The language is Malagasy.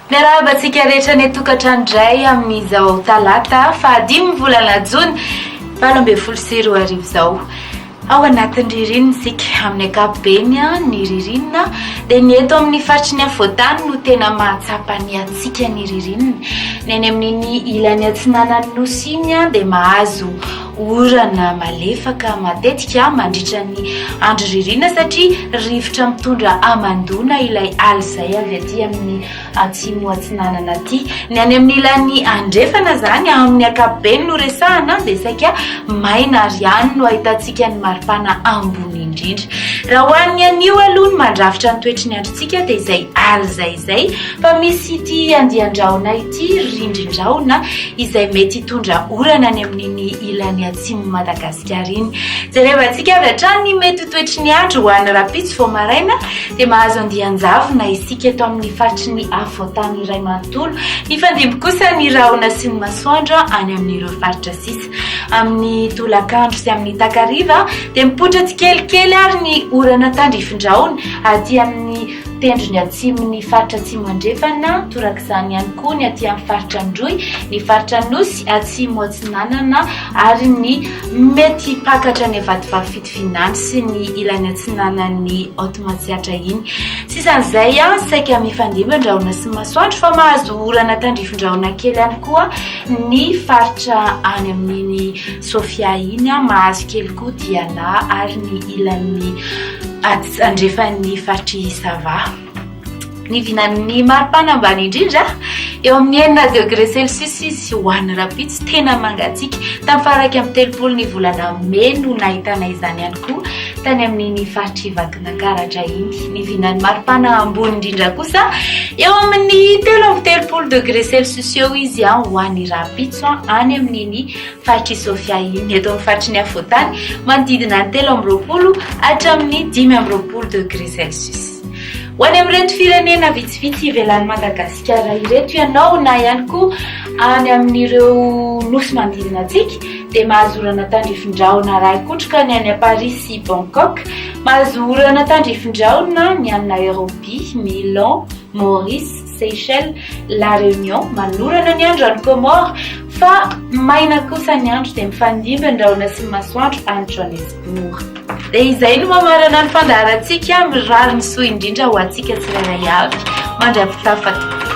Miarahaba antsika rehetra ny tokantrano indray amin'izao talata fahadimy volana jona valo ambin'ny folo sy roa arivo izao. Ao anatin'ny ririnina isika. Amin'ny ankapobeny, ny ririnina dia ny eto amin'ny faritry ny afovoan-tany no tena mahatsapa ny hatsiaka ny ririnina. Ny any amin'iny ilany atsinanan'ny nosy iny dia mahazo orana malefaka matetika mandritra ny andro ririnina satria rivotra mitondra hamandoana ilay ala izay avy aty amin'ny Atsimo Atsinanana aty. Ny any amin'ny ilany andrefana izany, amin'ny ankapobeny no resahana, dia saika maina ary any no ahitantsika ny maripana ambony indrindra. Raha ho an'ny anio aloha ny mandrafitra ny toetry ny androntsika dia izay aly izay izay fa misy ity andian-drahona ity, rindrin-drahona, izay mety hitondra orana any amin'iny ilany atsimon'i Madagasikara. Diariny. Jerevantsika avy hatrany ny mety ho toetry ny andro ho any rahampitso vao maraina dia mahazo andian-javona isika eto amin'ny faritry ny afovoan-tany iray manontolo. Mifandimby kosa ny rahona sy ny masoandro any amin'ireo faritra sisa. Amin'ny tolakandro sy amin'ny takariva dia mipoitra tsikelikely ary ny orana tandrifin-drahona aty amin'ny tendrony atsimon'ny faritra atsimo andrefana, torak'izany ihany koa ny aty amin'ny faritra Androy, ny faritra Anosy, Atsimo Atsinanana, ary ny mety hipakatra ny vadivavy fitovinany sy ny ilany atsinanan'ny Haute Matsiatra iny. Sisan'izay, saika mifandimby ny rahona sy ny masoandro fa mahazo orana tandrifin-drahona kely ihany koa ny faritra any amin'iny Sofia iny, mahazo kely koa Diana ary ny ilany andrefan'ny faritr'i Sava. Ny vinan'ny maripana ambany indrindra, eo amin'ny enina degré celsius izy ho an'ny rahampitso, tena mangatsiaka. Tamin'ny faha iraika amby telopolo ny volana mey no nahitana izany ihany koa tany amin'iny faritr'i Vakinakaratra iny. Ny vinan'ny maripana ambony indrindra kosa, eo amin'ny telo amby telopolo degré celsius eo izy ho an'ny rahampitso any amin'iny faritr'i Sofia iny, eto amin'ny faritry ny afovoantany, manodidina ny telo amby roapolo hatramin'ny dimy amby roapolo degré celsius. Ho any amin'ireto firenena vitsivitsy ivelan'i Madagasikara ireto ianao na ihany koa any amin'ireo nosy manodidina antsika dia mahazo orana tandrifin-drahona ara-ahi-kotroka ny any à Paris sy Bangkok, mahazo orana tandrifin-drahona ny any Nairobi, Milan, Maurice, Seychelles, La Réunion, manorana ny andro any Comores, fa maina kosa ny andro dia mifandimby ny rahona sy ny masoandro any Johannesburg. Dia izay no mamarana ny fandaharantsika, mirary ny soa indrindra ho antsika tsirairay avy. Mandry ampitafa tompoko.